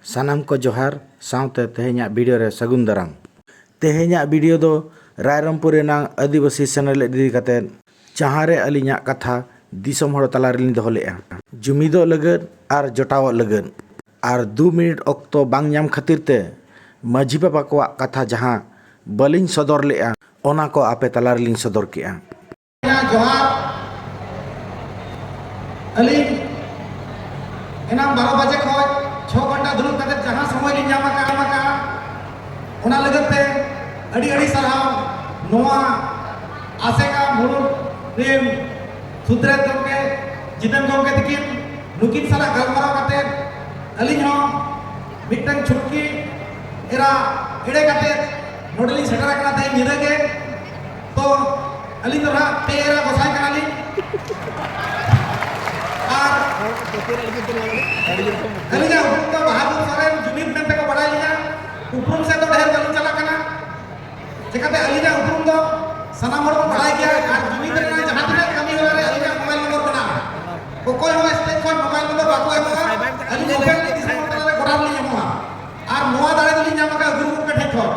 ᱥᱟᱱᱟᱢ ᱠᱚ ᱡᱚᱦᱟᱨ ᱥᱟᱶᱛᱮ ᱛᱮᱦᱮᱧᱟᱜ ᱵᱷᱤᱰᱤᱭᱳ ᱨᱮ ᱥᱟᱹᱜᱩᱱ ᱫᱟᱨᱟᱢ᱾ ᱛᱮᱦᱮᱧᱟᱜ ᱵᱷᱤᱰᱤᱭᱳ ᱫᱚ ᱨᱟᱭᱨᱚᱝᱯᱩᱨ ᱨᱮᱱᱟᱜ ᱟᱹᱫᱤᱵᱟᱹᱥᱤ ᱥᱮᱱᱮᱞᱮᱫ ᱤᱫᱤ ᱠᱟᱛᱮ᱾ ᱡᱟᱦᱟᱸ ᱨᱮ ᱟᱹᱞᱤᱧᱟᱜ ᱠᱟᱛᱷᱟ ᱫᱤᱥᱚᱢ ᱦᱚᱲ ᱛᱟᱞᱟ ᱨᱮᱞᱤᱧ ᱫᱚᱦᱚ ᱞᱮᱫᱼᱟ᱾ ᱡᱩᱢᱤᱫᱚᱜ ᱞᱟᱹᱜᱤᱫ ᱟᱨ ᱡᱚᱴᱟᱣᱚᱜ ᱞᱟᱹᱜᱤᱫ᱾ ᱟᱨ ᱫᱩ ᱢᱤᱱᱤᱴ ᱚᱠᱛᱚ ᱵᱟᱝ ᱧᱟᱢ ᱠᱷᱟᱹᱛᱤᱨ ᱛᱮ ᱢᱟᱹᱡᱷᱤ ᱵᱟᱵᱟ ᱠᱚᱣᱟᱜ ᱠᱟᱛᱷᱟ ᱡᱟᱦᱟᱸ ᱵᱟᱹᱞᱤᱧ ᱥᱚᱫᱚᱨ ᱞᱮᱫᱼᱟ ᱚᱱᱟ ᱠᱚ ᱟᱯᱮ ᱛᱟᱞᱟ ᱨᱮᱞᱤᱧ ᱥᱚᱫᱚᱨ ᱠᱮᱫᱼᱟ᱾ ᱡᱚᱦᱟᱨ ᱟᱹᱞᱤᱧ ᱮᱱᱟᱝ ᱵᱟᱨᱚ ᱵᱟᱡᱮ ᱠᱷᱚᱱ ᱪᱷᱚ ᱜᱷᱚᱱᱴᱟ ᱫᱩᱲᱩᱵ ᱠᱟᱛᱮ ᱡᱟᱦᱟᱸ ᱥᱚᱢᱚᱭ ᱞᱤᱧ ᱧᱟᱢ ᱟᱠᱟᱫ ᱮᱢ ᱟᱠᱟᱫᱼᱟ ᱚᱱᱟ ᱞᱟᱹᱜᱤᱫ ᱛᱮ ᱟᱹᱰᱤ ᱟᱹᱰᱤ ᱥᱟᱨᱦᱟᱣ ᱱᱚᱣᱟ ᱟᱥᱮᱠᱟ ᱢᱩᱬᱩᱛ ᱨᱮᱱ ᱥᱩᱫᱨᱮᱛ ᱜᱚᱢᱠᱮ ᱡᱤᱛᱮᱱ ᱜᱚᱢᱠᱮ ᱛᱤᱠᱤᱱ ᱱᱩᱠᱤᱱ ᱥᱟᱞᱟᱜ ᱜᱟᱞᱢᱟᱨᱟᱣ ᱠᱟᱛᱮ ᱟᱹᱞᱤᱧ ᱦᱚᱸ ᱢᱤᱫᱴᱟᱝ ᱪᱷᱩᱴᱠᱤ ᱮᱨᱟ ᱮᱲᱮ ᱠᱟᱛᱮ ᱱᱚᱰᱮᱞᱤᱧ ᱥᱮᱴᱮᱨ ᱟᱠᱟᱱᱟ ᱛᱮᱦᱮᱧ ᱧᱤᱫᱟᱹ ᱜᱮ ᱛᱚ ᱟᱹᱞᱤᱧ ᱫᱚ ᱱᱟᱦᱟᱜ ᱯᱮ ᱮᱨᱟ ᱜᱚᱥᱟᱭ ᱠᱟᱱᱟᱞᱤᱧ ᱟᱨ ᱟᱹᱞᱤᱧᱟᱜ ᱩᱯᱨᱩᱢ ᱫᱚ ᱵᱟᱦᱟᱫᱩᱨ ᱥᱚᱨᱮᱱ ᱡᱩᱢᱤᱫ ᱢᱮᱱᱛᱮ ᱠᱚ ᱵᱟᱲᱟᱭ ᱞᱤᱧᱟ ᱩᱯᱨᱩᱢ ᱥᱮᱫ ᱫᱚ ᱰᱷᱮᱨ ᱵᱟᱹᱞᱤᱧ ᱪᱟᱞᱟᱜ ᱠᱟᱱᱟ ᱪᱮᱠᱟᱛᱮ ᱟᱹᱞᱤᱧᱟᱜ ᱩᱯᱨᱩᱢ ᱫᱚ ᱥᱟᱱᱟᱢ ᱦᱚᱲ ᱠᱚ ᱵᱟᱲᱟᱭ ᱜᱮᱭᱟ ᱟᱨ ᱡᱩᱢᱤᱫ ᱨᱮᱱᱟᱜ ᱡᱟᱦᱟᱸ ᱛᱤᱱᱟᱹᱜ ᱠᱟᱹᱢᱤ ᱦᱚᱨᱟ ᱨᱮ ᱟᱹᱞᱤᱧᱟᱜ ᱢᱳᱵᱟᱭᱤᱞ ᱱᱚᱢᱵᱚᱨ ᱢᱮᱱᱟᱜᱼᱟ ᱚᱠᱚᱭ ᱦᱚᱸ ᱥᱴᱮᱡ ᱠᱷᱚᱱ ᱢᱳᱵᱟᱭᱤᱞ ᱱᱚᱢᱵᱚᱨ ᱵᱟᱠᱚ ᱮᱢᱚᱜᱼᱟ ᱟᱹᱞᱤᱧ ᱢᱳᱵᱟᱭᱤᱞ ᱫᱤᱥᱚᱢ ᱦᱚᱲ ᱛᱟᱞᱟᱨᱮ ᱜᱚᱴᱟ ᱞᱤᱧ ᱮᱢᱚᱜᱼᱟ ᱟᱨ ᱱᱚᱣᱟ ᱫᱟᱲᱮ ᱫᱚᱞᱤᱧ ᱧᱟᱢ ᱟᱠᱟᱫ ᱜᱩᱨᱩ ᱜᱚᱢᱠᱮ ᱴᱷᱮᱱ ᱠᱷᱚᱱ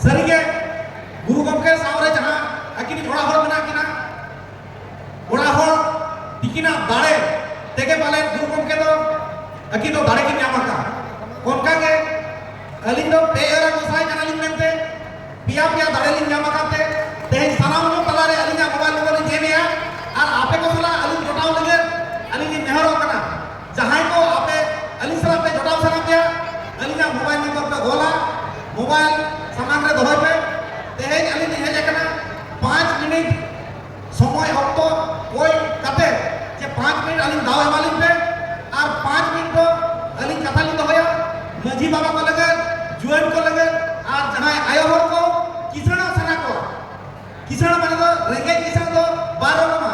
ᱥᱟᱹᱨᱤᱜᱮ ᱜᱩᱨᱩ ᱜᱚᱢᱠᱮ ᱥᱟᱶᱨᱮ ᱡᱟᱦᱟᱸ ᱟᱹᱠᱤᱱ ᱚᱲᱟᱜ ᱦᱚᱲ ᱢᱮᱱᱟᱜ ᱠᱤᱱᱟ ᱚᱲᱟᱜ ᱦᱚᱲ ᱛᱤᱠᱤᱱᱟᱜ ᱫᱟᱲᱮ ᱛᱮᱜᱮ ᱯᱟᱞᱮ ᱜᱩᱨᱩ ᱜᱚᱢᱠᱮ ᱫᱚ ᱟᱹᱠᱤᱱ ᱫᱚ ᱫᱟᱲᱮ ᱠᱤᱱ ᱧᱟᱢ ᱟᱠᱟᱫᱼᱟ ᱚᱱᱠᱟᱜᱮ ᱟᱹᱞᱤᱧ ᱫᱚ ᱯᱮ ᱮᱨᱟ ᱜᱚᱸᱥᱟᱭ ᱠᱟᱱᱟᱞᱤᱧ ᱢᱮᱱᱛᱮ ᱯᱮᱭᱟ ᱯᱮᱭᱟ ᱫᱟᱲᱮ ᱞᱤᱧ ᱧᱟᱢ ᱟᱠᱟᱫ ᱛᱮ ᱛᱮᱦᱮᱧ ᱥᱟᱱᱟᱢ ᱠᱚ ᱛᱟᱞᱟᱨᱮ ᱟᱹᱞᱤᱧᱟᱜ ᱢᱳᱵᱟᱭᱤᱞ ᱱᱚᱢᱵᱚᱨ ᱞᱤᱧ ᱮᱢᱮᱜᱼᱟ ᱟᱨ ᱟᱯᱮ ᱠᱚ ᱥᱟᱞᱟᱜ ᱟᱹᱞᱤᱧ ᱡᱚᱴᱟᱣ ᱞᱟᱹᱜᱤᱫ ᱟᱹᱞᱤᱧ ᱞᱤᱧ ᱱᱮᱦᱚᱨᱚᱜ ᱠᱟᱱᱟ ᱡᱟᱦᱟᱸᱭ ᱠᱚ ᱟᱯᱮ ᱟᱹᱞᱤᱧ ᱥᱟᱞᱟᱜ ᱯᱮ ᱡᱚᱴᱟᱣ ᱥᱟᱱᱟ ᱯᱮᱭᱟ ᱟᱹᱞᱤᱧᱟᱜ ᱢᱳᱵᱟᱭᱤᱞ ᱱᱚᱢᱵᱚᱨ ᱯᱮ ᱚᱞᱟ ᱢᱳᱵᱟᱭᱤᱞ ᱥᱟᱢᱟᱝ ᱨᱮ ᱫᱚᱦᱚᱭ ᱯᱮ ᱛᱮᱦᱮᱧ ᱟᱹᱞᱤᱧ ᱞᱤᱧ ᱦᱮᱡ ᱟᱠᱟᱱᱟ ᱯᱟᱸᱪ ᱢᱤᱱᱤᱴ ᱥᱚᱢᱚᱭ ᱚᱠᱛᱚ ᱠᱚᱭ ᱠᱟᱛᱮ ᱡᱮ ᱯᱟᱸᱪ ᱢᱤᱱᱤᱴ ᱟᱹᱞᱤᱧ ᱫᱟᱣ ᱮᱢᱟᱞᱤᱧ ᱯᱮ ᱟᱨ ᱯᱟᱸᱪ ᱢᱤᱱᱤᱴ ᱫᱚ ᱟᱹᱞᱤᱧ ᱠᱟᱛᱷᱟ ᱞᱤᱧ ᱫᱚᱦᱚᱭᱟ ᱢᱟᱹᱡᱷᱤ ᱵᱟᱵᱟ ᱠᱚ ᱞᱟᱹᱜᱤᱫ ᱡᱩᱣᱟᱹᱱ ᱠᱚ ᱞᱟᱹᱜᱤᱫ ᱟᱨ ᱡᱟᱦᱟᱸᱭ ᱟᱭᱳ ᱦᱚᱲ ᱠᱚ ᱠᱤᱥᱟᱹᱬᱚᱜ ᱥᱟᱱᱟ ᱠᱚᱣᱟ ᱠᱤᱥᱟᱹᱬ ᱢᱟᱱᱮ ᱫᱚ ᱨᱮᱸᱜᱮᱡ ᱠᱤᱥᱟᱹᱬ ᱫᱚ ᱵᱟᱨ ᱨᱚᱠᱚᱢᱟ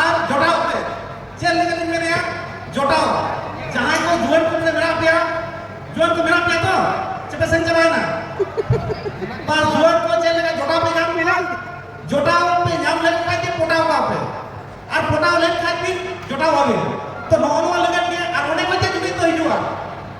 ᱟᱨ ᱡᱚᱴᱟᱣ ᱯᱮ ᱪᱮᱫ ᱞᱟᱹᱜᱤᱫ ᱤᱧ ᱢᱮᱱᱮᱜᱼᱟ ᱡᱚᱴᱟᱣ ᱡᱟᱦᱟᱸᱭ ᱠᱚ ᱡᱩᱣᱟᱹᱱ ᱠᱚ ᱢᱮᱱᱟᱜ ᱯᱮᱭᱟ ᱡᱩᱣᱟᱹᱱ ᱠᱚ ᱢᱮᱱᱟᱜ ᱯᱮᱭᱟ ᱛᱚ ᱪᱮᱯᱮ ᱥᱮᱱ ᱪᱟᱵᱟᱭᱮᱱᱟ ᱵᱟ ᱡᱩᱣᱟᱹᱱ ᱠᱚ ᱪᱮᱫ ᱞᱮᱠᱟ ᱡᱚᱴᱟᱣ ᱯᱮ ᱧᱟᱢ ᱠᱮᱫᱟ ᱡᱚᱴᱟᱣ ᱯᱮ ᱧᱟᱢ ᱞᱮᱱ ᱠᱷᱟᱡ ᱜᱮ ᱯᱚᱴᱟᱣ ᱠᱚᱣᱟ ᱯᱮ ᱟᱨ ᱯᱚᱴᱟᱣ ᱞᱮᱱ ᱠᱷᱟᱡ ᱜᱮ ᱡᱚᱴᱟᱣ ᱟᱵᱮᱱ ᱛᱚ ᱱᱚᱜᱼᱚ ᱱᱚᱣᱟ ᱞᱟᱹᱜᱤᱫ ᱜᱮ ᱟᱨ ᱚᱸᱰᱮ ᱠᱷᱚᱡ ᱜᱮ ᱡᱩᱢᱤᱫ ᱫᱚ ᱦᱤᱡᱩᱜᱼᱟ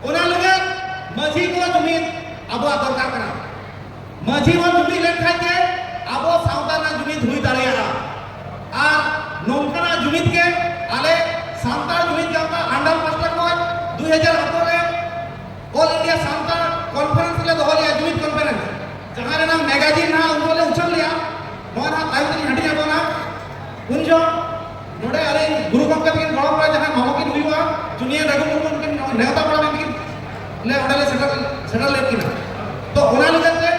ᱚᱱᱟ ᱞᱟᱹᱜᱤᱫ ᱢᱟᱹᱡᱷᱤ ᱠᱚ ᱡᱩᱢᱤᱫ ᱟᱵᱚᱣᱟᱜ ᱫᱚᱨᱠᱟᱨ ᱠᱟᱱᱟ ᱢᱟᱹᱡᱷᱤ ᱵᱚᱱ ᱡᱩᱢᱤᱫ ᱞᱮᱱᱠᱷᱟᱱ ᱜᱮ ᱟᱵᱚ ᱥᱟᱶᱛᱟ ᱨᱮᱱᱟᱜ ᱡᱩᱢᱤᱫ ᱦᱩᱭ ᱫᱟᱲᱮᱭᱟᱜᱼᱟ ᱟᱨ ᱱᱚᱝᱠᱟᱱᱟᱜ ᱡᱩᱢᱤᱫ ᱜᱮ ᱟᱞᱮ ᱥᱟᱱᱛᱟᱲ ᱡᱩᱢᱤᱫ ᱜᱟᱶᱛᱟ ᱟᱱᱰᱟᱞ ᱯᱟᱥᱴᱟ ᱠᱷᱚᱱ ᱫᱩᱭ ᱦᱟᱡᱟᱨ ᱟᱴᱷᱨᱚ ᱨᱮ ᱚᱞ ᱤᱱᱰᱤᱭᱟ ᱥᱟᱱᱛᱟᱲ ᱠᱚᱱᱯᱷᱟᱨᱮᱱᱥ ᱞᱮ ᱫᱚᱦᱚ ᱞᱮᱫᱼᱟ ᱡᱩᱢᱤᱫ ᱠᱚᱱᱯᱷᱟᱨᱮᱱᱥ ᱡᱟᱦᱟᱸ ᱨᱮᱱᱟᱜ ᱢᱮᱜᱟᱡᱤᱱ ᱱᱟᱦᱟᱜ ᱩᱱᱠᱩ ᱞᱮ ᱩᱪᱷᱟᱹᱱ ᱞᱮᱫᱼᱟ ᱱᱚᱣᱟ ᱱᱟᱦᱟᱜ ᱛᱟᱭᱚᱢ ᱛᱮᱞᱤᱧ ᱦᱟᱹᱴᱤᱧ ᱟᱠᱚ ᱱᱟᱦᱟᱜ ᱩᱱ ᱡᱚᱦᱚᱜ ᱱᱚᱰᱮ ᱟᱞᱮ ᱜᱩᱨᱩ ᱜᱚᱢᱠᱮ ᱛᱟᱹᱠᱤᱱ ᱜᱚᱲᱚᱢ ᱨᱮ ᱡᱟᱦᱟᱸ ᱢᱟᱢᱚ ᱠᱤᱱ ᱦᱩᱭᱩᱜᱼᱟ ᱡᱩᱱᱤᱭᱟᱨ ᱨᱟᱹᱜᱷᱩ ᱢᱩᱨᱢᱩ ᱛᱟᱹᱠᱤᱱ ᱱᱮᱣᱛᱟ ᱵᱟᱲᱟ ᱞᱮᱱ ᱠᱤᱱ ᱞᱮ ᱚᱸᱰᱮ ᱞᱮ ᱥᱮᱴᱮᱨ ᱥᱮᱴᱮᱨ ᱞᱮᱫ ᱠᱤᱱᱟ ᱛᱚ ᱚᱱᱟ ᱞᱮᱠᱟᱛᱮ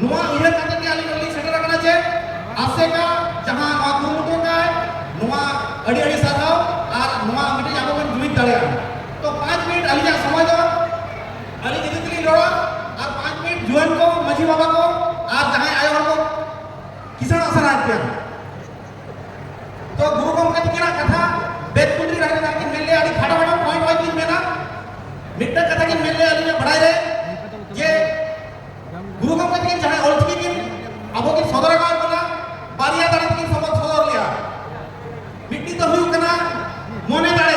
ᱱᱚᱣᱟ ᱩᱭᱦᱟᱹᱨ ᱠᱟᱛᱮ ᱜᱮ ᱟᱹᱞᱤᱧ ᱞᱤᱧ ᱥᱮᱴᱮᱨ ᱟᱠᱟᱱᱟ ᱡᱮ ᱟᱥᱮᱠᱟ ᱡᱟᱦᱟᱸ ᱱᱚᱣᱟ ᱠᱩᱨᱩᱢᱩᱴᱩ ᱠᱟᱭ ᱱᱚᱣᱟ ᱟᱹᱰᱤ ᱟᱹᱰᱤ ᱥᱟᱨᱦᱟᱣ ᱟᱨ ᱱᱚᱣᱟ ᱢᱤᱫᱴᱤᱡ ᱟᱵᱚ ᱵᱚᱱ ᱡᱩᱢᱤᱫ ᱫᱟᱲᱮᱭᱟᱜᱼᱟ ᱛᱚ ᱯᱟᱸᱪ ᱢᱤᱱᱤᱴ ᱟᱹᱞᱤᱧᱟᱜ ᱥᱚᱢᱚᱭ ᱫᱚ ᱟᱹᱞᱤᱧ ᱤᱫᱤ ᱛᱮᱞᱤᱧ ᱨᱚᱲᱟ ᱟᱨ ᱯᱟᱸᱪ ᱢᱤᱱᱤᱴ ᱡᱩᱣᱟᱹᱱ ᱠᱚ ᱢᱟᱹᱡᱷᱤ ᱵᱟᱵᱟ ᱠᱚ ᱟᱨ ᱡᱟᱦᱟᱸᱭ ᱟᱭᱳ ᱦᱚᱲ ᱠᱚ ᱠᱤᱥᱟᱹᱬ ᱟᱥᱟᱱ ᱟᱡ ᱜᱮᱭᱟ ᱛᱚ ᱜᱩᱨᱩ ᱜᱚᱢᱠᱮ ᱛᱤᱠᱤᱱᱟᱜ ᱠᱟᱛᱷᱟ ᱵᱮᱫ ᱠᱩᱴᱨᱤ ᱨᱟᱦᱟ ᱨᱮ ᱠᱤᱱ ᱢᱮᱱ ᱞᱮᱭᱟ ᱟᱹᱰᱤ ᱠᱷᱟᱴᱚ ᱠᱷᱟᱴᱚ ᱯᱚᱭᱮᱱᱴ ᱯᱚᱭᱮᱱᱴ ᱠᱤᱱ ᱢᱮᱱᱟ ᱢᱤᱫᱴᱟᱝ ᱠᱟᱛᱷᱟ ᱠᱤᱱ ᱢᱮᱱ ᱞᱮᱭᱟ ᱟᱹᱞᱤᱧᱟᱜ ᱵᱟᱲᱟᱭ ᱨᱮ ᱡᱮ ᱜᱩᱨᱩ ᱜᱚᱢᱠᱮ ᱛᱤᱠᱤᱱ ᱡᱟᱦᱟᱸᱭ ᱚᱞ ᱪᱤᱠᱤ ᱠᱤᱱ ᱟᱵᱚ ᱠᱤᱱ ᱥᱚᱫᱚᱨ ᱟᱠᱟᱫ ᱵᱚᱱᱟ ᱵᱟᱨᱭᱟ ᱫᱟᱲᱮ ᱛᱤᱠᱤᱱ ᱥᱚᱫᱚᱨ ᱞᱮᱭᱟ ᱢᱤᱫᱴᱤᱡ ᱫᱚ ᱦᱩᱭᱩᱜ ᱠᱟᱱᱟ ᱢᱚᱱᱮ ᱫᱟᱲᱮ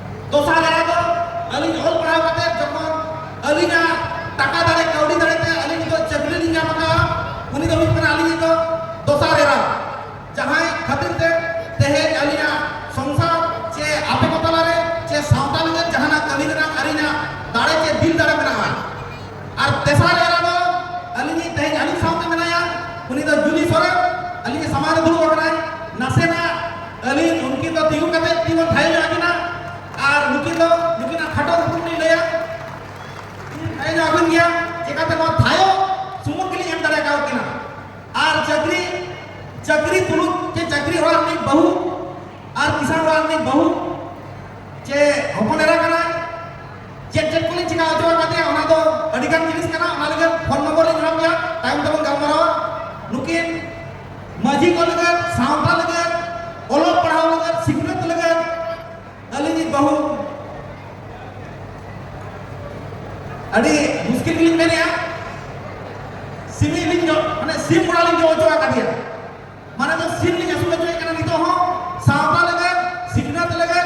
ᱫᱚᱥᱟᱨ ᱫᱟᱨᱟ ᱫᱚ ᱟᱹᱞᱤᱧ ᱚᱞ ᱯᱟᱲᱦᱟᱣ ᱠᱟᱛᱮ ᱡᱚᱠᱷᱚᱱ ᱟᱹᱞᱤᱧᱟᱜ ᱴᱟᱠᱟ ᱫᱟᱲᱮ ᱠᱟᱹᱣᱰᱤ ᱫᱟᱲᱮ ᱛᱮ ᱟᱹᱞᱤᱧ ᱱᱤᱛᱚᱜ ᱪᱟᱹᱠᱨᱤ ᱞᱤᱧ ᱧᱟᱢ ᱟᱠᱟᱫᱼᱟ ᱩᱱᱤ ᱫᱚ ᱦᱩᱭᱩᱜ ᱠᱟᱱᱟ ᱟᱹᱞᱤᱧ ᱫᱚ ᱫᱚᱥᱟᱨ ᱮᱨᱟ ᱡᱟᱦᱟᱸᱭ ᱠᱷᱟᱹᱛᱤᱨ ᱛᱮ ᱛᱮᱦᱮᱧ ᱟᱹᱞᱤᱧᱟᱜ ᱥᱚᱝᱥᱟᱨ ᱪᱮ ᱟᱯᱮ ᱠᱚ ᱛᱟᱞᱟᱨᱮ ᱪᱮ ᱥᱟᱶᱛᱟ ᱞᱟᱹᱜᱤᱫ ᱡᱟᱦᱟᱱᱟᱜ ᱠᱟᱹᱢᱤ ᱨᱮᱱᱟᱜ ᱟᱹᱞᱤᱧᱟᱜ ᱫᱟᱲᱮ ᱪᱮ ᱫᱤᱞ ᱫᱟᱲᱮ ᱢᱮᱱᱟᱜᱼᱟ ᱟᱨ ᱛᱮᱥᱟᱨ ᱮᱨᱟ ᱫᱚ ᱟᱹᱞᱤᱧ ᱛᱮᱦᱮᱧ ᱟᱹᱞᱤᱧ ᱥᱟᱶᱛᱮ ᱢᱮᱱᱟᱭᱟ ᱩᱱᱤ ᱫᱚ ᱡᱩᱞᱤ ᱥᱚᱨᱮᱱ ᱟᱹᱞᱤᱧ ᱥᱟᱢᱟᱝ ᱨᱮ ᱫᱩᱲᱩᱵ ᱟᱠᱟᱱᱟᱭ ᱱᱟᱥᱮᱱᱟᱜ ᱟᱹᱞᱤᱧ ᱩᱱᱠᱤᱱ ᱫᱚ ᱛᱤᱸᱜᱩ ᱠᱟᱛᱮ ᱛᱤᱸᱜᱩ ᱛᱷᱟᱭ ᱧᱚᱜ ᱟᱹᱠᱤᱱᱟ ᱟᱨ ᱱᱩᱠᱤᱱ ᱫᱚ ᱱᱩᱠᱤᱱᱟᱜ ᱠᱷᱟᱴᱚ ᱩᱯᱨᱩᱢ ᱞᱤᱧ ᱞᱟᱹᱭᱟ ᱛᱷᱟᱭ ᱧᱚᱜ ᱟᱹᱵᱤᱱ ᱜᱮᱭᱟ ᱪᱮᱠᱟᱛᱮ ᱱᱚᱣᱟ ᱛᱷᱟᱭᱚ ᱥᱩᱢᱩᱝ ᱜᱮᱞᱤᱧ ᱮᱢ ᱫᱟᱲᱮ ᱟᱠᱟᱣ ᱠᱤᱱᱟ ᱟᱨ ᱪᱟᱹᱠᱨᱤ ᱪᱟᱹᱠᱨᱤ ᱛᱩᱞᱩᱡ ᱪᱮ ᱪᱟᱹᱠᱨᱤ ᱚᱲᱟᱜ ᱨᱤᱱᱤᱡ ᱵᱟᱹᱦᱩ ᱟᱨ ᱠᱤᱥᱟᱱ ᱚᱲᱟᱜ ᱨᱤᱱᱤᱡ ᱵᱟᱹᱦᱩ ᱪᱮ ᱦᱚᱯᱚᱱ ᱮᱨᱟ ᱠᱟᱱᱟᱭ ᱪᱮᱫ ᱪᱮᱫ ᱠᱚᱞᱤᱧ ᱪᱮᱠᱟ ᱦᱚᱪᱚ ᱟᱠᱟᱫᱮᱭᱟ ᱚᱱᱟ ᱫᱚ ᱟᱹᱰᱤᱜᱟᱱ ᱡᱤᱱᱤᱥ ᱠᱟᱱᱟ ᱚᱱᱟ ᱞᱟᱹᱜᱤᱫ ᱯᱷᱳᱱ ᱱᱚᱢᱵᱚᱨ ᱞᱤᱧ ᱮᱢᱟᱢ ᱜᱮᱭᱟ ᱛᱟᱭᱚᱢ ᱛᱮᱵᱚᱱ ᱜᱟᱞᱢᱟᱨᱟᱣᱟ ᱱᱩᱠᱤᱱ ᱢᱟᱹᱡᱷᱤ ᱠᱚ ᱞᱟᱹᱜᱤᱫ ᱥᱟᱶᱛᱟ ᱞᱟᱹᱜᱤᱫ ᱚᱞᱚᱜ ᱯᱟᱲᱦᱟᱣ ᱞᱟᱹᱜᱤᱫ ᱥᱤᱠᱷᱱᱟᱹᱛ ᱞᱟᱹᱜᱤᱫ ᱟᱹᱞᱤᱧ ᱵᱟᱹᱦᱩ ᱟᱹᱰᱤ ᱢᱩᱥᱠᱤᱞ ᱜᱮᱞᱤᱧ ᱢᱮᱱᱮᱜᱼᱟ ᱥᱤᱢᱤ ᱞᱤᱧ ᱡᱚ ᱢᱟᱱᱮ ᱥᱤᱢ ᱜᱚᱲᱟ ᱞᱤᱧ ᱡᱚ ᱦᱚᱪᱚ ᱟᱠᱟᱫᱮᱭᱟ ᱢᱟᱱᱮ ᱫᱚ ᱥᱤᱢ ᱞᱤᱧ ᱟᱹᱥᱩᱞ ᱦᱚᱪᱚᱭᱮ ᱠᱟᱱᱟ ᱱᱤᱛᱚᱜ ᱦᱚᱸ ᱥᱟᱶᱛᱟ ᱞᱟᱹᱜᱤᱫ ᱥᱤᱠᱷᱱᱟᱹᱛ ᱞᱟᱹᱜᱤᱫ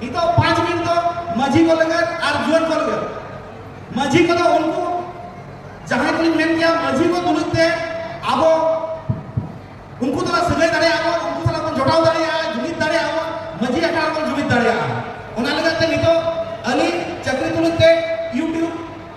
ᱱᱤᱛᱚᱜ ᱯᱟᱸᱪ ᱢᱤᱱᱤᱴ ᱫᱚ ᱢᱟᱹᱡᱷᱤ ᱠᱚ ᱞᱟᱹᱜᱤᱫ ᱟᱨ ᱡᱩᱣᱟᱹᱱ ᱠᱚ ᱞᱟᱹᱜᱤᱫ ᱢᱟᱹᱡᱷᱤ ᱠᱚᱫᱚ ᱩᱱᱠᱩ ᱡᱟᱦᱟᱸᱭ ᱠᱚᱞᱤᱧ ᱢᱮᱱ ᱠᱮᱭᱟ ᱢᱟᱹᱡᱷᱤ ᱠᱚ ᱛᱩᱞᱩᱡ ᱛᱮ ᱟᱵᱚ ᱩᱱᱠᱩ ᱫᱚ ᱥᱟᱹᱜᱟᱹᱭ ᱫᱟᱲᱮᱭᱟᱜᱼᱟ ᱵᱚᱱ ᱩᱱᱠᱩ ᱥᱟᱞᱟᱜ ᱵᱚᱱ ᱡᱚᱲᱟᱣ ᱫᱟᱲᱮᱭᱟᱜᱼᱟ ᱡᱩᱢᱤᱫ ᱫᱟᱲᱮᱭᱟᱜᱼᱟ ᱵᱚᱱ ᱢᱟᱹᱡᱷᱤ ᱟᱠᱷᱲᱟ ᱨᱮᱵᱚᱱ ᱡᱩᱢᱤᱫ ᱫᱟᱲᱮᱭᱟᱜᱼᱟ ᱚᱱᱟ ᱞᱟᱹᱜᱤᱫ ᱛᱮ ᱱᱤᱛᱚᱜ ᱟᱹᱞᱤᱧ ᱪᱟᱹᱠᱨᱤ ᱛᱩᱞᱩᱡ ᱛᱮ ᱤᱭᱩᱴᱤᱭᱩᱵᱽ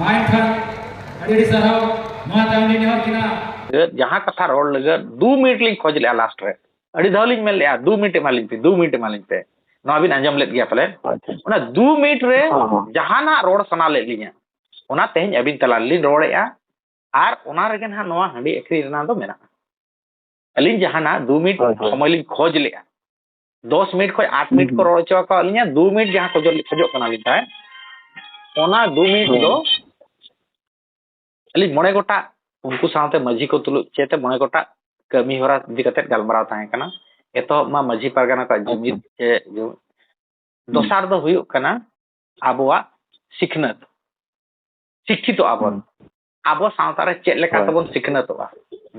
ᱢᱟᱭ ᱠᱷᱟᱱ ᱟᱹᱰᱤ ᱟᱹᱰᱤ ᱥᱟᱨᱦᱟᱣ ᱢᱟ ᱛᱟᱭᱚᱢᱞᱤᱧ ᱱᱮᱦᱚᱨ ᱠᱤᱱᱟ ᱡᱟᱦᱟᱸ ᱠᱟᱛᱷᱟ ᱨᱚᱲ ᱞᱟᱹᱜᱤᱫ ᱫᱩ ᱢᱤᱱᱤᱴ ᱞᱤᱧ ᱠᱷᱚᱡ ᱞᱮᱫᱼᱟ ᱞᱟᱥᱴ ᱨᱮ ᱟᱹᱰᱤ ᱫᱷᱟᱣ ᱞᱤᱧ ᱢᱮᱱ ᱞᱮᱫᱼᱟ ᱫᱩ ᱢᱤᱱᱤᱴ ᱮᱢᱟᱞᱤᱧ ᱯᱮ ᱫᱩ ᱢᱤᱱᱤᱴ ᱮᱢᱟᱞᱤᱧ ᱯᱮ ᱱᱚᱣᱟ ᱵᱤᱱ ᱟᱸᱡᱚᱢ ᱞᱮᱫ ᱜᱮᱭᱟ ᱯᱟᱞᱮᱱ ᱚᱱᱟ ᱫᱩ ᱢᱤᱱᱤᱴ ᱨᱮ ᱡᱟᱦᱟᱱᱟᱜ ᱨᱚᱲ ᱥᱟᱱᱟ ᱞᱮᱫ ᱞᱤᱧᱟ ᱚᱱᱟ ᱛᱮᱦᱮᱧ ᱟᱹᱵᱤᱱ ᱛᱟᱞᱟ ᱨᱮᱞᱤᱧ ᱨᱚᱲᱮᱫᱼᱟ ᱟᱨ ᱚᱱᱟ ᱨᱮᱜᱮ ᱱᱟᱦᱟᱜ ᱱᱚᱣᱟ ᱦᱟᱺᱰᱤ ᱟᱹᱠᱷᱨᱤᱧ ᱨᱮᱱᱟᱜ ᱫᱚ ᱢᱮᱱᱟᱜᱼᱟ ᱟᱹᱞᱤᱧ ᱡᱟᱦᱟᱱᱟᱜ ᱫᱩ ᱢᱤᱱᱤᱴ ᱥᱚᱢᱚᱭ ᱞᱤᱧ ᱠᱷᱚᱡ ᱞᱮᱫᱼᱟ ᱫᱚᱥ ᱢᱤᱱᱤᱴ ᱠᱷᱚᱱ ᱟᱴ ᱢᱤᱱᱤᱴ ᱠᱚ ᱨᱚᱲ ᱦᱚᱪᱚ ᱟᱠᱟᱫ ᱞᱤᱧᱟ ᱫᱩ ᱢᱤᱱᱤᱴ ᱡᱟᱦᱟᱸ ᱠᱚ ᱠᱷᱚᱡᱚᱜ ᱠᱟᱱᱟᱞᱤᱧ ᱛᱟᱦᱮᱸᱫ ᱚᱱᱟ ᱫᱩ ᱢᱤᱱᱤᱴ ᱫᱚ ᱟᱹᱞᱤᱧ ᱢᱚᱬᱮ ᱜᱚᱴᱟᱜ ᱩᱱᱠᱩ ᱥᱟᱶᱛᱮ ᱢᱟᱹᱡᱷᱤ ᱠᱚ ᱛᱩᱞᱩᱡ ᱪᱮᱛᱮ ᱢᱚᱬᱮ ᱜᱚᱴᱟᱜ ᱠᱟᱹᱢᱤ ᱦᱚᱨᱟ ᱤᱫᱤ ᱠᱟᱛᱮ ᱜᱟᱞᱢᱟᱨᱟᱣ ᱛᱟᱦᱮᱸ ᱠᱟᱱᱟ ᱮᱛᱚᱦᱚᱵ ᱢᱟ ᱢᱟᱹᱡᱷᱤ ᱯᱟᱨᱜᱟᱱᱟ ᱠᱚᱣᱟᱜ ᱡᱩᱢᱤᱫ ᱥᱮ ᱫᱚᱥᱟᱨ ᱫᱚ ᱦᱩᱭᱩᱜ ᱠᱟᱱᱟ ᱟᱵᱚᱣᱟᱜ ᱥᱤᱠᱷᱱᱟᱹᱛ ᱥᱤᱠᱠᱷᱤᱛᱚ ᱟᱵᱚᱱ ᱟᱵᱚ ᱥᱟᱶᱛᱟ ᱨᱮ ᱪᱮᱫ ᱞᱮᱠᱟ ᱛᱮᱵᱚᱱ ᱥᱤᱠᱷᱱᱟᱹᱛᱚᱜᱼᱟ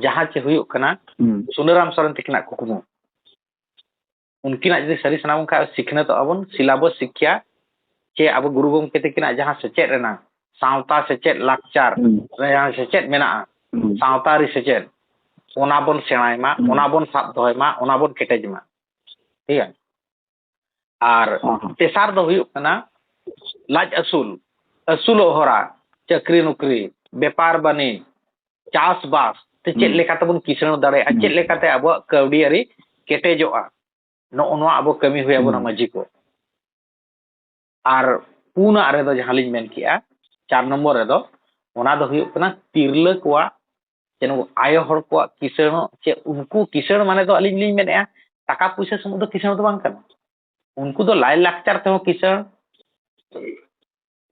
ᱡᱟᱦᱟᱸ ᱪᱮ ᱦᱩᱭᱩᱜ ᱠᱟᱱᱟ ᱥᱩᱱᱟᱹᱨᱟᱢ ᱥᱚᱨᱮᱱ ᱛᱟᱹᱠᱤᱱᱟᱜ ᱠᱩᱠᱢᱩ ᱩᱱᱠᱤᱱᱟᱜ ᱡᱩᱫᱤ ᱥᱟᱹᱨᱤ ᱥᱟᱱᱟ ᱵᱚᱱ ᱠᱷᱟᱱ ᱥᱤᱠᱷᱱᱟᱹᱛᱚᱜᱼᱟ ᱵᱚᱱ ᱥᱤᱞᱟᱵᱚᱥ ᱥᱤᱠᱠᱷᱟ ᱪᱮ ᱟᱵᱚ ᱜᱩᱨᱩ ᱜᱚᱢᱠᱮ ᱛᱟᱹᱠᱤᱱᱟᱜ ᱡᱟᱦᱟᱸ ᱥᱮᱪᱮᱫ ᱨᱮᱱᱟᱜ ᱥᱟᱶᱛᱟ ᱥᱮᱪᱮᱫ ᱞᱟᱠᱪᱟᱨ ᱨᱮᱭᱟᱝ ᱥᱮᱪᱮᱫ ᱢᱮᱱᱟᱜᱼᱟ ᱥᱟᱶᱛᱟᱨᱤ ᱥᱮᱪᱮᱫ ᱚᱱᱟ ᱵᱚᱱ ᱥᱮᱬᱟᱭ ᱢᱟ ᱚᱱᱟ ᱵᱚᱱ ᱥᱟᱵ ᱫᱚᱦᱚᱭ ᱢᱟ ᱚᱱᱟ ᱵᱚᱱ ᱠᱮᱴᱮᱡ ᱢᱟ ᱴᱷᱤᱠ ᱜᱮᱭᱟ ᱟᱨ ᱛᱮᱥᱟᱨ ᱫᱚ ᱦᱩᱭᱩᱜ ᱠᱟᱱᱟ ᱞᱟᱡ ᱟᱹᱥᱩᱞ ᱟᱹᱥᱩᱞᱚᱜ ᱦᱚᱨᱟ ᱪᱟᱹᱠᱨᱤ ᱱᱚᱠᱨᱤ ᱵᱮᱯᱟᱨ ᱵᱟᱹᱱᱤᱡᱽ ᱪᱟᱥᱵᱟᱥ ᱛᱮ ᱪᱮᱫ ᱞᱮᱠᱟ ᱛᱮᱵᱚᱱ ᱠᱤᱥᱟᱹᱬ ᱫᱟᱲᱮᱭᱟᱜᱼᱟ ᱪᱮᱫ ᱞᱮᱠᱟᱛᱮ ᱟᱵᱚᱣᱟᱜ ᱠᱟᱹᱣᱰᱤ ᱟᱹᱨᱤ ᱠᱮᱴᱮᱡᱚᱜᱼᱟ ᱱᱚᱜᱼᱚ ᱱᱚᱣᱟ ᱟᱵᱚ ᱠᱟᱹᱢᱤ ᱦᱩᱭ ᱟᱵᱚᱱᱟ ᱢᱟᱺᱡᱷᱤ ᱠᱚ ᱟᱨ ᱯᱩᱱᱟᱜ ᱨᱮᱫᱚ ᱡᱟᱦᱟᱸ ᱞᱤᱧ ᱢᱮᱱ ᱠᱮᱜᱼᱟ ᱪᱟᱨ ᱱᱚᱢᱵᱚᱨ ᱨᱮᱫᱚ ᱚᱱᱟ ᱫᱚ ᱦᱩᱭᱩᱜ ᱠᱟᱱᱟ ᱛᱤᱨᱞᱟᱹ ᱠᱚᱣᱟᱜ ᱥᱮ ᱱᱩᱠᱩ ᱟᱭᱳ ᱦᱚᱲ ᱠᱚᱣᱟᱜ ᱠᱤᱥᱟᱹᱬ ᱥᱮ ᱩᱱᱠᱩ ᱠᱤᱥᱟᱹᱬ ᱢᱟᱱᱮ ᱫᱚ ᱟᱹᱞᱤᱧ ᱞᱤᱧ ᱢᱮᱱᱮᱫᱼᱟ ᱴᱟᱠᱟ ᱯᱩᱭᱥᱟᱹ ᱥᱩᱢᱩᱝ ᱫᱚ ᱠᱤᱥᱟᱹᱬ ᱫᱚ ᱵᱟᱝ ᱠᱟᱱᱟ ᱩᱱᱠᱩ ᱫᱚ ᱞᱟᱭᱼᱞᱟᱠᱪᱟᱨ ᱛᱮᱦᱚᱸ ᱠᱤᱥᱟᱹᱬ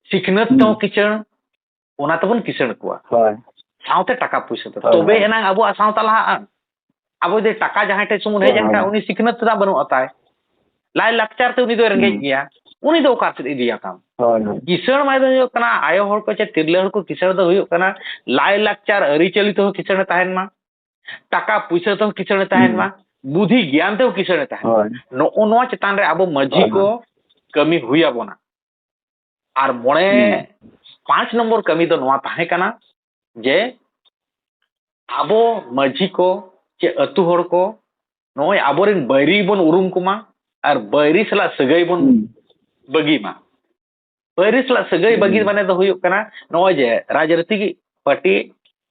ᱥᱤᱠᱷᱱᱟᱹᱛ ᱛᱮᱦᱚᱸ ᱠᱤᱥᱟᱹᱬ ᱚᱱᱟ ᱛᱮᱵᱚᱱ ᱠᱤᱥᱟᱹᱬ ᱠᱚᱣᱟ ᱥᱟᱶᱛᱮ ᱴᱟᱠᱟ ᱯᱩᱭᱥᱟᱹ ᱛᱮ ᱛᱚᱵᱮ ᱮᱱᱟᱝ ᱟᱵᱚᱣᱟᱜ ᱥᱟᱶᱛᱟ ᱞᱟᱦᱟᱜᱼᱟ ᱟᱵᱚ ᱡᱩᱫᱤ ᱴᱟᱠᱟ ᱡᱟᱦᱟᱸᱭ ᱴᱷᱮᱱ ᱥᱩᱢᱩᱱ ᱦᱮᱡ ᱮᱱ ᱠᱷᱟᱱ ᱩᱱᱤ ᱥᱤᱠᱷᱱᱟᱹᱛ ᱨᱮᱱᱟᱜ ᱵᱟᱹᱱᱩᱜᱼᱟ ᱛᱟᱭ ᱞᱟᱭ ᱞᱟᱠᱪᱟᱨ ᱛᱮ ᱩᱱᱤ ᱫᱚᱭ ᱨᱮᱸᱜᱮᱡ ᱜᱮᱭᱟ ᱩᱱᱤ ᱫᱚ ᱚᱠᱟ ᱥᱮᱫ ᱤᱫᱤᱭᱟ ᱛᱟᱢ ᱠᱤᱥᱟᱹᱬ ᱢᱟᱱᱮ ᱫᱚ ᱦᱩᱭᱩᱜ ᱠᱟᱱᱟ ᱟᱭᱳ ᱦᱚᱲ ᱠᱚ ᱪᱮ ᱛᱤᱨᱞᱟᱹ ᱦᱚᱲ ᱠᱚ ᱠᱤᱥᱟᱹᱬ ᱫᱚ ᱦᱩᱭᱩᱜ ᱠᱟᱱᱟ ᱞᱟᱭ ᱞᱟᱠᱪᱟᱨ ᱟᱹᱨᱤᱪᱟᱹᱞᱤ ᱛᱮᱦᱚᱸ ᱠᱤᱥᱟᱹᱬ ᱛᱟᱦᱮᱱ ᱢᱟ ᱴᱟᱠᱟ ᱯᱩᱭᱥᱟᱹ ᱛᱮᱦᱚᱸ ᱠᱤᱥᱟᱹᱬ ᱛᱟᱦᱮᱱ ᱢᱟ ᱵᱩᱫᱷᱤ ᱜᱮᱭᱟᱱ ᱛᱮᱦᱚᱸ ᱠᱤᱥᱟᱹᱬ ᱛᱟᱦᱮᱱ ᱢᱟ ᱱᱚᱜᱼᱚ ᱱᱚᱣᱟ ᱪᱮᱛᱟᱱ ᱨᱮ ᱟᱵᱚ ᱢᱟᱹᱡᱷᱤ ᱠᱚ ᱠᱟᱹᱢᱤ ᱦᱩᱭ ᱟᱵᱚᱱᱟ ᱟᱨ ᱢᱚᱬᱮ ᱯᱟᱸᱪ ᱱᱚᱢᱵᱚᱨ ᱠᱟᱹᱢᱤ ᱫᱚ ᱱᱚᱣᱟ ᱛᱟᱦᱮᱸ ᱠᱟᱱᱟ ᱡᱮ ᱟᱵᱚ ᱢᱟᱹᱡᱷᱤ ᱠᱚ ᱪᱮ ᱟᱹᱛᱩ ᱦᱚᱲ ᱠᱚ ᱱᱚᱜᱼᱚᱭ ᱟᱵᱚᱨᱮᱱ ᱵᱟᱹᱭᱨᱤ ᱵᱚᱱ ᱩᱨᱩᱢ ᱠᱚᱢᱟ ᱟᱨ ᱵᱟᱹᱭᱨᱤ ᱥᱟᱞᱟᱜ ᱥᱟᱹᱜᱟᱹᱭ ᱵᱚᱱ ᱵᱟᱹᱜᱤ ᱢᱟ ᱵᱟᱹᱭᱨᱤ ᱥᱟᱞᱟᱜ ᱥᱟᱹᱜᱟᱹᱭ ᱵᱟᱹᱜᱤ ᱢᱟᱱᱮ ᱫᱚ ᱦᱩᱭᱩᱜ ᱠᱟᱱᱟ ᱱᱚᱜᱼᱚᱭ ᱡᱮ ᱨᱟᱡᱽᱱᱤᱛᱤ ᱯᱟᱨᱴᱤ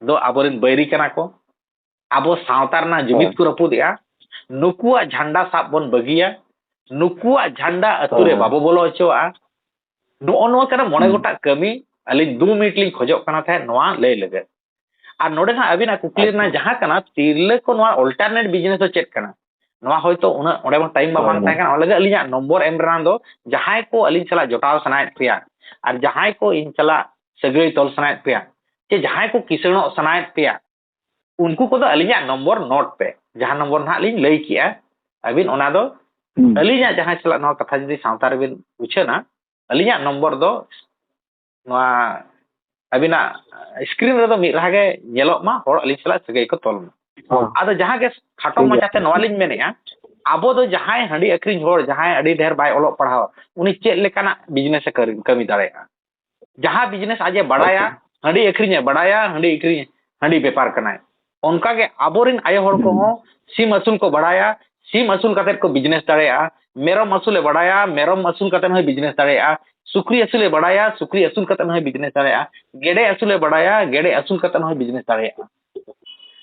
ᱫᱚ ᱟᱵᱚᱨᱮᱱ ᱵᱟᱹᱭᱨᱤ ᱠᱟᱱᱟ ᱠᱚ ᱟᱵᱚ ᱥᱟᱶᱛᱟ ᱨᱮᱱᱟᱜ ᱡᱩᱢᱤᱫ ᱠᱚ ᱨᱟᱹᱯᱩᱫ ᱮᱫᱼᱟ ᱱᱩᱠᱩᱣᱟᱜ ᱡᱷᱟᱱᱰᱟ ᱥᱟᱵ ᱵᱚᱱ ᱵᱟᱹᱜᱤᱭᱟ ᱱᱩᱠᱩᱣᱟᱜ ᱡᱷᱟᱱᱰᱟ ᱟᱹᱛᱩ ᱨᱮ ᱵᱟᱵᱚ ᱵᱚᱞᱚ ᱦᱚᱪᱚᱣᱟᱜᱼᱟ ᱱᱚᱜᱼᱚ ᱱᱚᱣᱟ ᱠᱟᱱᱟ ᱢᱚᱬᱮ ᱜᱚᱴᱟᱜ ᱠᱟᱹᱢᱤ ᱟᱹᱞᱤᱧ ᱫᱩ ᱢᱤᱱᱤᱴ ᱞᱤᱧ ᱠᱷᱚᱡᱚᱜ ᱠᱟᱱᱟ ᱛᱟᱦᱮᱸᱫ ᱱᱚᱣᱟ ᱞᱟᱹᱭ ᱞᱟᱹᱜᱤᱫ ᱟᱨ ᱱᱚᱰᱮ ᱦᱟᱸᱜ ᱟᱹᱵᱤᱱᱟᱜ ᱠᱩᱠᱞᱤ ᱨᱮᱱᱟᱜ ᱡᱟᱦᱟᱸ ᱠᱟᱱᱟ ᱛᱤᱨᱞᱟᱹ ᱠᱚ ᱱᱚᱣᱟ ᱚᱞᱴᱟᱨᱱᱮᱴ ᱵᱤᱡᱽᱱᱮᱥ ᱫᱚ ᱪᱮᱫ ᱠᱟᱱᱟ ᱱᱚᱣᱟ ᱦᱚᱭᱛᱳ ᱩᱱᱟᱹᱜ ᱚᱸᱰᱮ ᱢᱟ ᱴᱟᱭᱤᱢ ᱢᱟ ᱵᱟᱝ ᱛᱟᱦᱮᱸ ᱠᱟᱱᱟ ᱚᱱᱟ ᱞᱟᱹᱜᱤᱫ ᱟᱹᱞᱤᱧᱟᱜ ᱱᱚᱢᱵᱚᱨ ᱮᱢ ᱨᱮᱱᱟᱜ ᱫᱚ ᱡᱟᱦᱟᱸᱭ ᱠᱚ ᱟᱹᱞᱤᱧ ᱥᱟᱞᱟᱜ ᱡᱚᱴᱟᱣ ᱥᱟᱱᱟᱭᱮᱫ ᱯᱮᱭᱟ ᱟᱨ ᱡᱟᱦᱟᱸᱭ ᱠᱚ ᱤᱧ ᱥᱟᱞᱟᱜ ᱥᱟᱹᱜᱟᱹᱭ ᱛᱚᱞ ᱥᱟᱱᱟᱭᱮᱫ ᱯᱮᱭᱟ ᱥᱮ ᱡᱟᱦᱟᱸᱭ ᱠᱚ ᱠᱤᱥᱟᱹᱬᱚᱜ ᱥᱟᱱᱟᱭᱮᱫ ᱯᱮᱭᱟ ᱩᱱᱠᱩ ᱠᱚᱫᱚ ᱟᱹᱞᱤᱧᱟᱜ ᱱᱚᱢᱵᱚᱨ ᱱᱳᱴ ᱯᱮ ᱡᱟᱦᱟᱸ ᱱᱚᱢᱵᱚᱨ ᱱᱟᱦᱟᱜ ᱞᱤᱧ ᱞᱟᱹᱭ ᱠᱮᱜᱼᱟ ᱟᱹᱵᱤᱱ ᱚᱱᱟ ᱫᱚ ᱟᱹᱞᱤᱧᱟᱜ ᱡᱟᱦᱟᱸ ᱥᱟᱞᱟᱜ ᱱᱚᱣᱟ ᱠᱟᱛᱷᱟ ᱡᱩᱫᱤ ᱥᱟᱶᱛᱟ ᱨᱮᱵᱤᱱ ᱩᱪᱷᱟᱹᱱᱟ ᱟᱹᱞᱤᱧᱟᱜ ᱱᱚᱢᱵᱚᱨ ᱫᱚ ᱱᱚᱣᱟ ᱟᱹᱵᱤᱱᱟᱜ ᱥᱠᱨᱤᱱ ᱨᱮᱫᱚ ᱢᱤᱫ ᱨᱟᱦᱟ ᱜᱮ ᱧᱮᱞᱚᱜ ᱢᱟ ᱦᱚᱲ ᱟᱹᱞᱤᱧ ᱥᱟᱞᱟᱜ ᱥᱟᱹᱜᱟᱹᱭ ᱠᱚ ᱛᱚᱞ ᱢᱟ ᱟᱫᱚ ᱡᱟᱦᱟᱸ ᱜᱮ ᱠᱷᱟᱴᱚ ᱢᱟᱪᱷᱟᱛᱮ ᱱᱚᱣᱟ ᱞᱤᱧ ᱢᱮᱱᱮᱜᱼᱟ ᱟᱵᱚ ᱫᱚ ᱡᱟᱦᱟᱸᱭ ᱦᱟᱺᱰᱤ ᱟᱹᱠᱷᱨᱤᱧ ᱦᱚᱲ ᱡᱟᱦᱟᱸᱭ ᱟᱹᱰᱤ ᱰᱷᱮᱨ ᱵᱟᱭ ᱚᱞᱚᱜ ᱯᱟᱲᱦᱟᱣ ᱩᱱᱤ ᱪᱮᱫ ᱞᱮᱠᱟᱱᱟᱜ ᱵᱤᱡᱽᱱᱮᱥ ᱮ ᱠᱟᱹᱢᱤ ᱫᱟᱲᱮᱭᱟᱜᱼᱟ ᱡᱟᱦᱟᱸ ᱵᱤᱡᱽᱱᱮᱥ ᱟᱡᱮ ᱵᱟᱲᱟᱭᱟ ᱦᱟᱺᱰᱤ ᱟᱹᱠᱷᱨᱤᱧᱮ ᱵᱟᱲᱟᱭᱟ ᱦᱟᱺᱰᱤ ᱟᱹᱠᱷᱨᱤᱧ ᱦᱟᱺᱰᱤ ᱵᱮᱯᱟᱨ ᱠᱟᱱᱟᱭ ᱚᱱᱠᱟᱜᱮ ᱟᱵᱚᱨᱮᱱ ᱟᱭᱳ ᱦᱚᱲ ᱠᱚᱦᱚᱸ ᱥᱤᱢ ᱟᱹᱥᱩᱞ ᱠᱚ ᱵᱟᱲᱟᱭᱟ ᱥᱤᱢ ᱟᱹᱥᱩᱞ ᱠᱟᱛᱮᱫ ᱠᱚ ᱵᱤᱡᱽᱱᱮᱥ ᱫᱟᱲᱮᱭᱟᱜᱼᱟ ᱢᱮᱨᱚᱢ ᱟᱹᱥᱩᱞᱮ ᱵᱟᱲᱟᱭᱟ ᱢᱮᱨᱚᱢ ᱟᱹᱥᱩᱞ ᱠᱟᱛᱮᱫ ᱦᱚᱸᱭ ᱵᱤᱡᱽᱱᱮᱥ ᱫᱟᱲᱮᱭᱟᱜᱼᱟ ᱥᱩᱠᱨᱤ ᱟᱹᱥᱩᱞᱮ ᱵᱟᱲᱟᱭᱟ ᱥᱩᱠᱨᱤ ᱟᱹᱥᱩᱞ ᱠᱟᱛᱮᱫ ᱦᱚᱸᱭ ᱵᱤᱡᱽᱱᱮᱥ ᱫᱟᱲᱮᱭᱟᱜᱼᱟ ᱜᱮᱰᱮ ᱟᱹᱥᱩᱞᱮ ᱵᱟᱲᱟᱭᱟ ᱜᱮᱰᱮ ᱟᱹᱥᱩᱞ ᱠᱟᱛᱮᱫ ᱦᱚᱸᱭ ᱵᱤᱡᱽᱱᱮᱥ ᱫᱟᱲᱮᱭᱟᱜᱼᱟ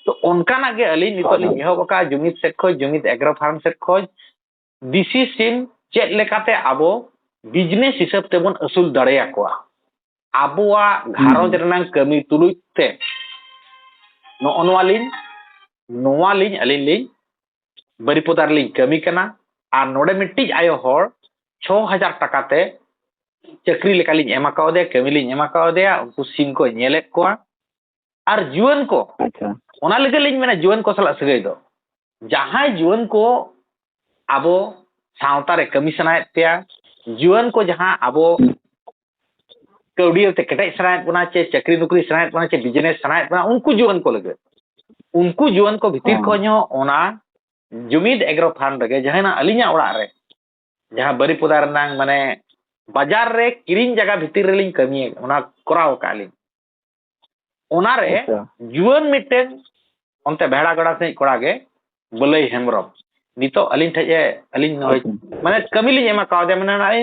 ᱛᱚ ᱚᱱᱠᱟᱱᱟᱜ ᱜᱮ ᱟᱹᱞᱤᱧ ᱱᱤᱛᱚᱜ ᱞᱤᱧ ᱮᱦᱚᱵ ᱟᱠᱟᱫᱼᱟ ᱡᱩᱢᱤᱫ ᱥᱮᱫ ᱠᱷᱚᱱ ᱡᱩᱢᱤᱫ ᱮᱜᱽᱨᱳ ᱯᱷᱟᱨᱢ ᱥᱮᱫ ᱠᱷᱚᱱ ᱫᱤᱥᱤ ᱥᱤᱢ ᱪᱮᱫ ᱞᱮᱠᱟᱛᱮ ᱟᱵᱚ ᱵᱤᱡᱽᱱᱮᱥ ᱦᱤᱥᱟᱹᱵ ᱛᱮᱵᱚᱱ ᱟᱹᱥᱩᱞ ᱫᱟᱲᱮᱭᱟᱠᱚᱣᱟ ᱟᱵᱚᱣᱟᱜ ᱜᱷᱟᱨᱚᱸᱡᱽ ᱨᱮᱱᱟᱝ ᱠᱟᱹᱢᱤ ᱛᱩᱞᱩᱡ ᱛᱮ ᱱᱚᱜᱼᱚ ᱱᱚᱣᱟ ᱞᱤᱧ ᱱᱚᱣᱟ ᱞᱤᱧ ᱟᱹᱞᱤᱧ ᱞᱤᱧ ᱵᱟᱹᱨᱤᱯᱚᱫᱟ ᱨᱮᱞᱤᱧ ᱠᱟᱹᱢᱤ ᱠᱟᱱᱟ ᱟᱨ ᱱᱚᱰᱮ ᱢᱤᱫᱴᱤᱡ ᱟᱭᱳ ᱦᱚᱲ ᱪᱷᱚ ᱦᱟᱡᱟᱨ ᱴᱟᱠᱟ ᱛᱮ ᱪᱟᱹᱠᱨᱤ ᱞᱮᱠᱟᱞᱤᱧ ᱮᱢ ᱟᱠᱟᱣᱫᱮᱭᱟ ᱠᱟᱹᱢᱤ ᱞᱤᱧ ᱮᱢ ᱟᱠᱟᱣᱫᱮᱭᱟ ᱩᱱᱠᱩ ᱥᱤᱢ ᱠᱚ ᱧᱮᱞᱮᱫ ᱠᱚᱣᱟ ᱟᱨ ᱡᱩᱣᱟᱹᱱ ᱠᱚ ᱟᱪᱪᱷᱟ ᱚᱱᱟ ᱞᱟᱹᱜᱤᱫ ᱞᱤᱧ ᱢᱮᱱᱟ ᱡᱩᱣᱟᱹᱱ ᱠᱚ ᱥᱟᱞᱟᱜ ᱥᱟᱹᱜᱟᱹᱭ ᱫᱚ ᱡᱟᱦᱟᱸᱭ ᱡᱩᱣᱟᱹᱱ ᱠᱚ ᱟᱵᱚ ᱥᱟᱶᱛᱟ ᱨᱮ ᱠᱟᱹᱢᱤ ᱥᱟᱱᱟᱭᱮᱫ ᱯᱮᱭᱟ ᱡᱩᱣᱟᱹᱱ ᱠᱚ ᱡᱟᱦᱟᱸ ᱟᱵᱚ ᱠᱟᱹᱣᱰᱤᱭᱟᱹᱛᱮ ᱠᱮᱴᱮᱡ ᱥᱟᱱᱟᱭᱮᱫ ᱵᱚᱱᱟ ᱪᱮ ᱪᱟᱹᱠᱨᱤ ᱱᱚᱠᱨᱤ ᱥᱟᱱᱟᱭᱮᱫ ᱵᱚᱱᱟ ᱪᱮ ᱵᱤᱡᱽᱱᱮᱥ ᱥᱟᱱᱟᱭᱮᱫ ᱵᱚᱱᱟ ᱩᱱᱠᱩ ᱡᱩᱣᱟᱹᱱ ᱠᱚ ᱞᱟᱹᱜᱤᱫ ᱩᱱᱠᱩ ᱡᱩᱣᱟᱹᱱ ᱠᱚ ᱵᱷᱤᱛᱤᱨ ᱦᱮᱸ᱾ ᱠᱷᱚᱱ ᱦᱚᱸ ᱚᱱᱟ ᱡᱩᱢᱤᱫ ᱮᱜᱽᱨᱳ ᱯᱷᱟᱨᱢ ᱨᱮᱜᱮ ᱡᱟᱦᱟᱸᱱᱟᱜ ᱟᱹᱞᱤᱧᱟᱜ ᱚᱲᱟᱜ ᱨᱮ ᱡᱟᱦᱟᱸ ᱵᱟᱹᱨᱤᱯᱚᱫᱟ ᱨᱮᱱᱟᱝ ᱢᱟᱱᱮ ᱵᱟᱡᱟᱨ ᱨᱮ ᱠᱤᱨᱤᱧ ᱡᱟᱭᱜᱟ ᱵᱷᱤᱛᱤᱨ ᱨᱮᱞᱤᱧ ᱠᱟᱹᱢᱤᱭᱮᱫ ᱚᱱᱟ ᱠᱚᱨᱟᱣ ᱟᱠᱟᱫ ᱞᱤᱧ ᱚᱱᱟᱨᱮ ᱟᱪᱪᱷᱟ ᱡᱩᱣᱟᱹᱱ ᱢᱤᱫᱴᱮᱱ ᱚᱱᱛᱮ ᱵᱷᱮᱲᱟ ᱜᱟᱰᱟ ᱥᱮᱫ ᱠᱚᱲᱟ ᱜᱮ ᱵᱟᱹᱞᱟᱹᱭ ᱦᱮᱢᱵᱨᱚᱢ ᱱᱤᱛᱚᱜ ᱟᱹᱞᱤᱧ ᱴᱷᱮᱡ ᱮ ᱟᱹᱞᱤᱧ ᱱᱚᱜᱼᱚᱭ ᱢᱟᱱᱮ ᱠᱟᱹᱢᱤ ᱞᱤᱧ ᱮᱢᱟ ᱠᱟᱣᱫᱮᱭᱟ ᱢᱟᱱᱮ ᱱᱚᱜᱼᱚᱭ